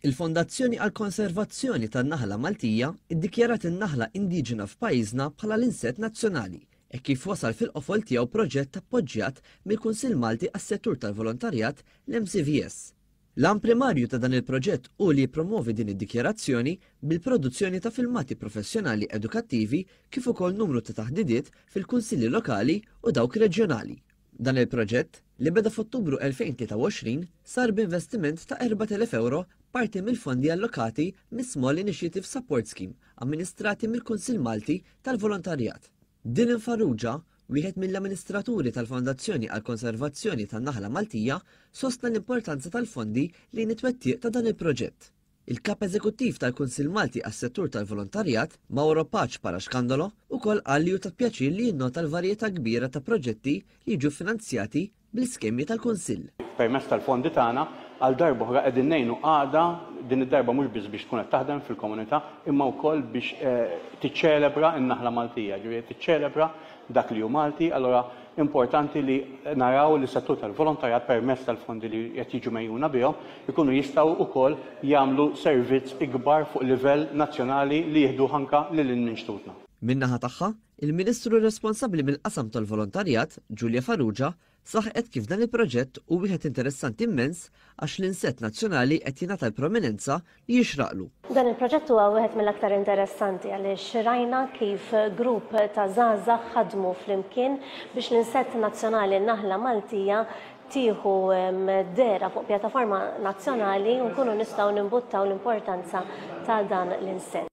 Il-Fondazzjoni għall-Konservazzjoni tan-Naħla Maltija ddikjarat in-naħla indiġena f'pajjiżna bħala l-insett nazzjonali hekk kif wasal fil-qofol tiegħu proġett appoġġjat mill-Kunsill Malti għas-Settur tal-Volontarjat, l-MCVS. L-għan primarju ta' dan il-proġett hu li jippromwovi din id-dikjarazzjoni bil-produzzjoni ta' filmati professjonali edukattivi kif ukoll numru ta' taħdidiet fil-Kunsilli Lokali u dawk Reġjonali. Dan il-proġett, li beda f'Ottubru 2023, sar b'investiment ta' 4,000 ewro parti mill-fondi allokati mis-Small Initiative Support Scheme amministrati mill-Kunsill Malti tal-Volontarjat. Dylan Farrugia, wieħed mill-amministraturi tal-Fondazzjoni għall-Konservazzjoni tan-Naħla Maltija, sostna l-importanza tal-fondi lejn it-twettiq ta' dan il-proġett. Il-Kap Eżekuttiv tal-Kunsill Malti għas-Settur tal-Volontarjat, Mauro Pace Parascandolo, ukoll qal li hu ta' pjaċir li jinnota l-varjetà kbira ta' proġetti li jiġu ffinanzjati bl-iskemi tal-Kunsill. Permezz tal-fondi tagħna, għal darb'oħra qegħdin ngħinu għaqda, din id-darba mhux biss biex tkun qed taħdem fil-komunità, imma wkoll biex tiċċelebra n-naħla Maltija, jiġifieri qed tiċċelebra dak li hu Malti, allura importanti li naraw li s-settur tal-volontarjat permezz tal-fondi li qed jiġu megħjuna bihom ikunu jistgħu wkoll jagħmlu servizz ikbar fuq livell nazzjonali li jieħduh anke lil hinn minn xtutna. Min-naħa tagħha, il-Ministru responsabbli mill-qasam tal-volontarjat, Julia Farrugia, Saħqet kif dan il-proġett hu wieħed interessanti mmens għax l-insett nazzjonali qed jingħata l-prominenza li jixraqlu. Dan il-proġett huwa wieħed mill-aktar interessanti għaliex rajna kif grupp ta' żgħażagħ ħadmu flimkien biex l-insett nazzjonali n-naħla Maltija tieħu dera fuq pjattaforma nazzjonali u nkunu nistgħu nimbuttaw l-importanza ta' dan l-insett.